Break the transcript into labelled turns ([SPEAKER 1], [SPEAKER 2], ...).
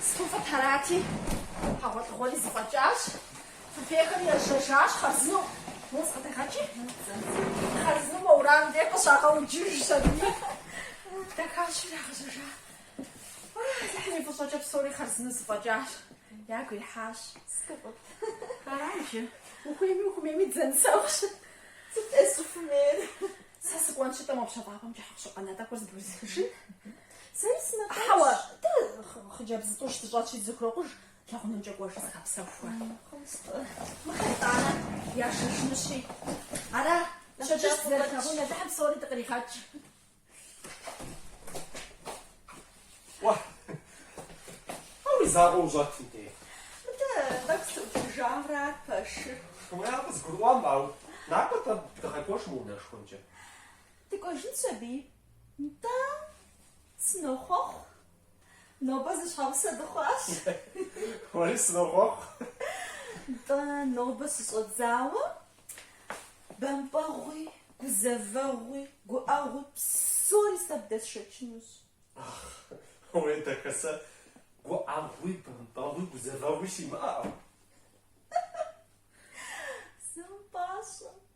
[SPEAKER 1] Сыту фӏыт, арати, хьэгъуэлӏыгъуэри зэфӏэкӏащ. Фыфейхэри ежьэжащ хъарзынэу. Мур зыкъыдэгъэкӏи? Хъарзынэу уэрам дей къыщагъэуджыжщ аби, дахащэу ирагъэжьэжа. Алыхьым и фӏыщӏэкӏэ псори хъарзынэу зэфӏэкӏащ. Ягу ихьащ. Сыту фӏыт. Арай жи. Ухуейми ухумейми дызэнысэгъущ. Сыт-тӏэ сыщӏыхуэмейр? Сэ сыкӏуэнщи-тӏэ мо пщэфӏапӏэмкӏэ хьэкъущыкъу нэтӏэхэр зэбгрысхыжын? Сэри сынэтӏащ. Хьэуэ, дэ хъыджэбз зытӏущ дыщӏэтщи дызыхурокъуж, лэгъунэмкӏэ кӏуэжи зыгъэпсэху уэ. Мыхъэтӏанэ яшэжынущи. Ара, щэджэщ зэрылъагъун Алыхьым псори
[SPEAKER 2] дыкъригъэкӏ. Уэ, ар уи закъуэу ущӏэтым дей. Мыдэ
[SPEAKER 1] тӏэкӏу сыӏуплъыжамрэ ар пэшыр. Уэ, къызгурыӏуам,
[SPEAKER 2] ауэ накӏуэ дыгъэкӏуэж мы унэшхуэмкӏэ.
[SPEAKER 1] Дыкӏуэжынщ аби. Нтӏэ, сынохъуэхъу. Нобэ зэщхьэгъусэ дыхъуащ.
[SPEAKER 2] Уэри сынохъуэхъу. Нтӏэ,
[SPEAKER 1] нобэ щыщӏэдзауэ бампӏэгъуи, гузэвэгъуи, гуӏэгъуи псори сэ
[SPEAKER 2] бдэсшэчынущ. Уей, дахэ, сэ гуӏэгъуи, бампӏэгъуи, гузэвэгъуи симыӏэ.
[SPEAKER 1] Зэ умыпӏащӏэ.